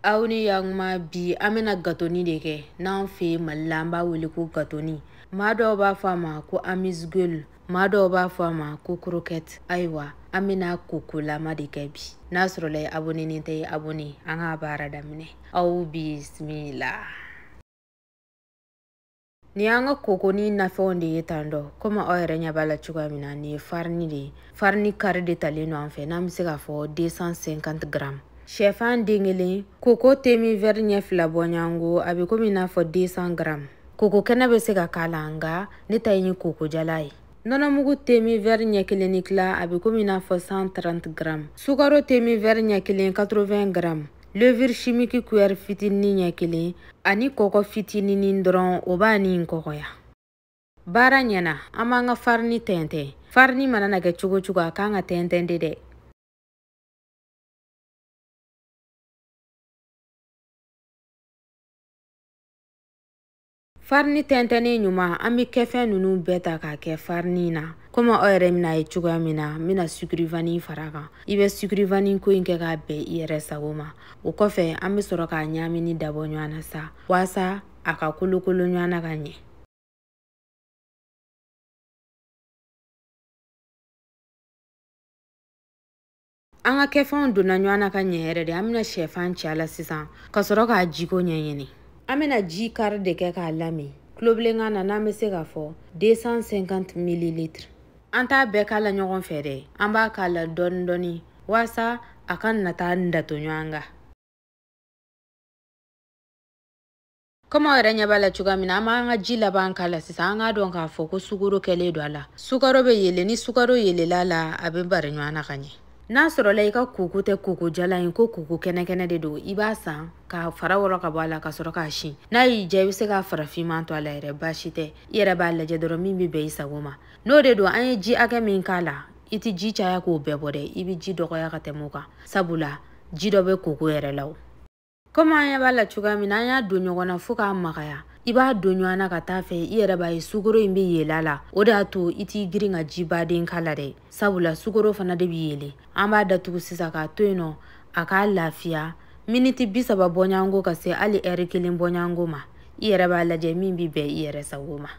aw ni yakuma bi an bɛna gatoni de kɛ n'an fɛ mali la an b'a wele ko gatoni maa dɔw b'a fɔ a ma ko amuse-gueule maa dɔw b'a fɔ a ma ko croquette ayiwa an bɛna kokolama de kɛ bi n'a sɔrɔla i abonenen tɛ i abone an ka baara daminɛ aw bisimila Nin y'an ka kokoni nafɛnw de ye tan dɔ komi aw yɛrɛ ɲɛ b'a la cogoya min na nin ye farini de ye farini kari de talen don an fɛ n'an bɛ se k'a fɔ 250 gramme sɛfan den kelen koko teminvɛri ɲɛ fila bɔɲɔgɔnko a bɛ komi i n'a fɔ 200 gramme koko kɛnɛ bɛ se ka k'a la nka ne ta in ye kokojalan ye nɔnɔmugu teminvɛri ɲɛ kelen ni tila a bɛ komi i n'a fɔ 130 gramme sukaro teminvɛri ɲɛ kelen 80 gramme levure chimique cuillère fitinin ɲɛ kelen ani kɔgɔ fitininin dɔrɔn o b'a ni in kɔgɔya baara ɲɛ na an b'an ka farini tɛntɛn farini mana na kɛ cogo cogo a kan ka tɛntɛn de dɛ farini tɛntɛnnen ɲuman an bɛ kɛfɛn ninnu bɛɛ ta k'a kɛ farini na komi aw yɛrɛ bɛn'a ye cogoya min na n bɛna sucre vanille far'a kan i bɛ sucre vanille ko in kɛ k'a bɛn i yɛrɛ sago ma o kɔfɛ an bɛ sɔrɔ k'a ɲaamini dabɔ ɲɔgɔn na sa waasa a ka kolokolo ɲɔgɔn na ka ɲɛ an ka kɛfɛnw donna ɲɔgɔn na ka ɲɛ yɛrɛ de an bɛna sɛfan ci a la sisan ka sɔrɔ k'a jiko ɲɛɲini an bɛna ji kari de kɛ k'a lami tulobilenkan na n'an bɛ se k'a fɔ 250 mililitre an t'a bɛɛ k'a la ɲɔgɔn fɛ dɛ an b'a k'a la dɔɔni dɔɔni waasa a kana taa dato ɲɔgɔn kan komi aw yɛrɛ ɲɛ b'a la cogoya min na an b'an ka ji laban k'a la sisan an k'a dɔn k'a fɔ ko sukaro kɛlen don a la sukaro bɛ yeele ni sukaro yeelela a la a bɛ bari ɲɔgɔn na ka ɲɛ n'a sɔrɔla i ka koko tɛ koko jalan ye ko koko kɛnɛkɛnɛ de don i b'a san k'a fara wɔrɔ ka bɔ a la ka sɔrɔ k'a si n'a y'i diya i bɛ se k'a fara finman to a la yɛrɛ baasi tɛ i yɛrɛ b'a lajɛ dɔrɔn min bɛ bɛn i sago ma n'o de don an ye ji hakɛ min k'a la i tɛ ji caya k'o bɛɛ bɔ dɛ i bɛ ji dɔgɔya ka tɛmɛ o kan sabula ji dɔ bɛ koko yɛrɛ la o komi an ɲɛ b'a la cogoya min na an y'a don ɲɔgɔn na fɔɔ k'a magaya i b'a don ɲɔgɔn na ka taa fɛ i yɛrɛ b'a ye sukoro in bɛ yeele a la o de y'a to i t'i girin ka ji baden k'a la dɛ sabula sukoro fana de bɛ yeele an b'a datugu sisan k'a to yen nɔ a ka lafiya miniti bi saba bɔɲɔgɔnko ka se hali ɛri kelen bɔɲɔgɔnko ma i yɛrɛ b'a lajɛ min bɛ bɛn i yɛrɛ sago ma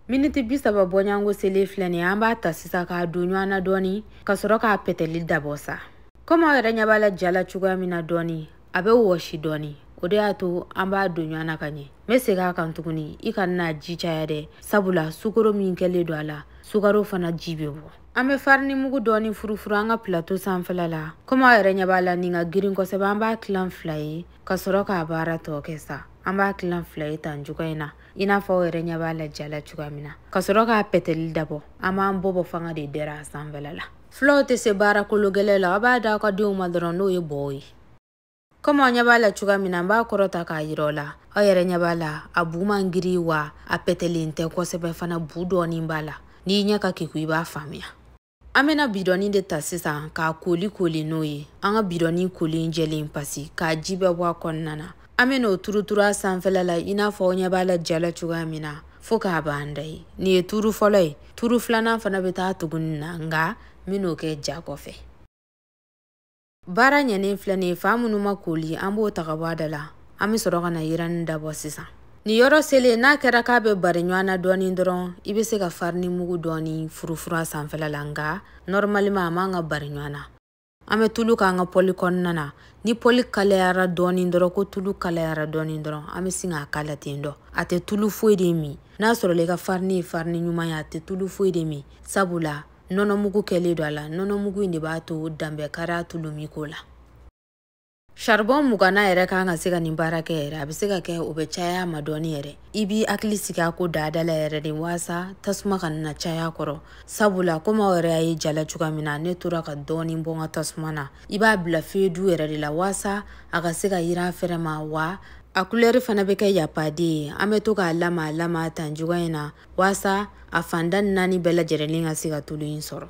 miniti bi saba bɔɲɔgɔnko selen filɛ nin ye an b'a ta sisan k'a don ɲɔgɔn na dɔɔni ka sɔrɔ k'a pɛtɛli dabɔ sa komi aw yɛrɛ ɲɛ b'a la ja la cogoya min na dɔɔni a bɛ wɔsi dɔɔni o de y'a to an b'a don ɲɔgɔn na ka ɲɛ n bɛ segin a kan tuguni i kana n'a ji caya dɛ sabula sukaro min kɛlen don a la sukaro fana ji bɛ bɔ an bɛ farini mugu dɔɔni furufuru an ka pilato sanfɛla la komi aw yɛrɛ ɲɛ b'a la nin ka girin kosɛbɛ an b'a tilan fila ye ka sɔrɔ k'a baara tɔ kɛ sa an b'a tilan fila ye tan cogoya in na i n'a fɔ aw yɛrɛ ɲɛ b'a la ja la cogoya min na ka sɔrɔ k'a pɛtɛli dabɔ an b'an bɔbɔ fanga de dɛrɛ a sanfɛla la fulaw tɛ se baara kolo gɛlɛ la aw b'a da aw ka denw ma dɔrɔn n'o ye bɔɔ ye komi aw ɲɛ b'a la cogoya min na n b'a kɔrɔta k'a yira aw la aw yɛrɛ ɲɛ b'a la a bu man giri wa a pɛtɛlen tɛ kosɛbɛ fana bu dɔɔnin b'a la n'i ɲɛ ka keku i b'a faamuya an bena bidɔni de ta sisan k'a kooli kooli n'o ye an ka bidɔni kolen jɛlen pasi k'a ji bɛɛ bɔ a kɔnɔna na an bena o turuturu a sanfɛla la i n'a fɔ aw ɲɛ b'a la ja la cogoya min na fɔɔ k'a banda ye nin ye turu fɔlɔ ye turu filanan fana be taa tuguni na nga n ben'o kɛ ja kɔfɛ baara ɲɛnen filɛ nin ye fan minnu ma kooli an b'o ta ka bɔ a da la an bɛ sɔrɔ ka na yiranni dabɔ sisan nin yɔrɔ selen n'a kɛra k'a bɛ bari ɲɔgɔn na dɔɔni dɔrɔn i bɛ se ka farini mugu dɔɔni furufuru a sanfɛla la nka nɔrɔmaliman a man ka bari ɲɔgɔn na an bɛ tulu k'an ka pɔli kɔnɔna na ni pɔli kalayara dɔɔni dɔrɔn ko tulu kalayara dɔɔni dɔrɔn an bɛ sin k'a k'a la ten dɔ a tɛ tulu foyi de min n'a sɔrɔla i ka farini ye farini ɲuman ye a tɛ tulu foyi de min sabula nɔnɔmugu kɛlen don a la nɔnɔmugu in de b'a to dan bɛ kari a tuluminko la saribɔn mugan na yɛrɛ kan ka se ka nin baara kɛ yɛrɛ a bɛ se ka kɛ o bɛ caya ma dɔɔni yɛrɛ i b'i hakili sigi a ko daada la yɛrɛ de waasa tasuma kana caya a kɔrɔ sabula komi aw yɛrɛ y'a ye ja la cogoya min na ne tora ka dɔɔni bɔ n ka tasuma na i b'a bila feu doux yɛrɛ de la waasa a ka se ka yiran fɛrɛ ma wa a kulɛri fana bɛ kɛ y a pas deux ye an bɛ to k'a lamaa lamaa tan cogoya in na waasa a fanda naani bɛɛ lajɛrɛlen ka se ka tulu in sɔrɔ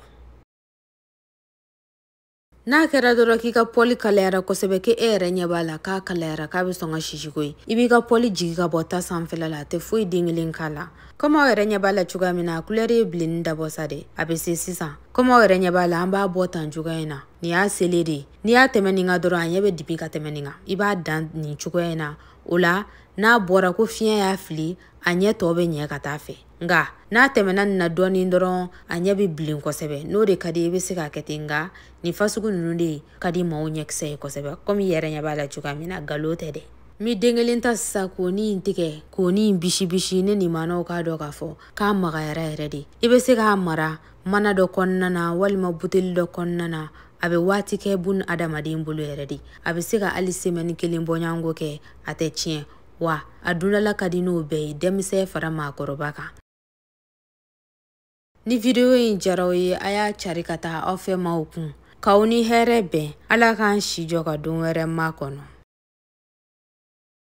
n'a kɛra dɔrɔn k'i ka pɔli kalayara kosɛbɛ k'e yɛrɛ ɲɛ b'a la k'a kalayara k'a be sɔn ka sisi koyi i b'i ka pɔli jigi ka bɔ ta sanfɛla la a tɛ foyi den kelen k'a la komi aw yɛrɛ ɲɛ b'a la cogoya min na a kulɛri ye bilenni dabɔ sa de a be se sisan komi aw yɛrɛ ɲɛ b'a la an b'a bɔ tan cogoya in na nin y'a selen de ye n'i y'a tɛmɛ nin kan dɔrɔn a ɲɛ be dibi ka tɛmɛ nin kan i b'a dan nin cogoya in na o la n'a bɔra ko fiɲɛ y'a fili a ɲɛ tɔ bɛ ɲɛ ka taa fɛ nka n'a tɛmɛna nin na dɔɔnin dɔrɔn a ɲɛ bɛ bilen kosɛbɛ n'o de ka di i bɛ se k'a kɛ ten nka nin fasugu ninnu de ka di maaw ɲɛkisɛ ye kosɛbɛ komi i yɛrɛ ɲɛ b'a la cogoya min na ngalon tɛ dɛ n bɛ den kelen ta sisan k'oni in tigɛ k'oni in bisibisi ɲɛ min ma aw k'a dɔn k'a fɔ k'a magayara yɛrɛ de i bɛ se k'a mara mana dɔ kɔnɔna na walima buteli dɔ kɔnɔna na a bɛ waati kɛ bun adamaden bolo yɛrɛ de a bɛ se ka hali semɛni kelen bɔɲɔgɔnko kɛ a tɛ tiɲɛ wa a dundala ka di n'o bɛɛ ye denmisɛn fara maakɔrɔba kan ni video in diyara aw ye a y'a cari ka taga aw fɛ maaw kun k'aw ni hɛrɛ bɛn ala k'an si jɔ ka don wɛrɛ makɔnɔ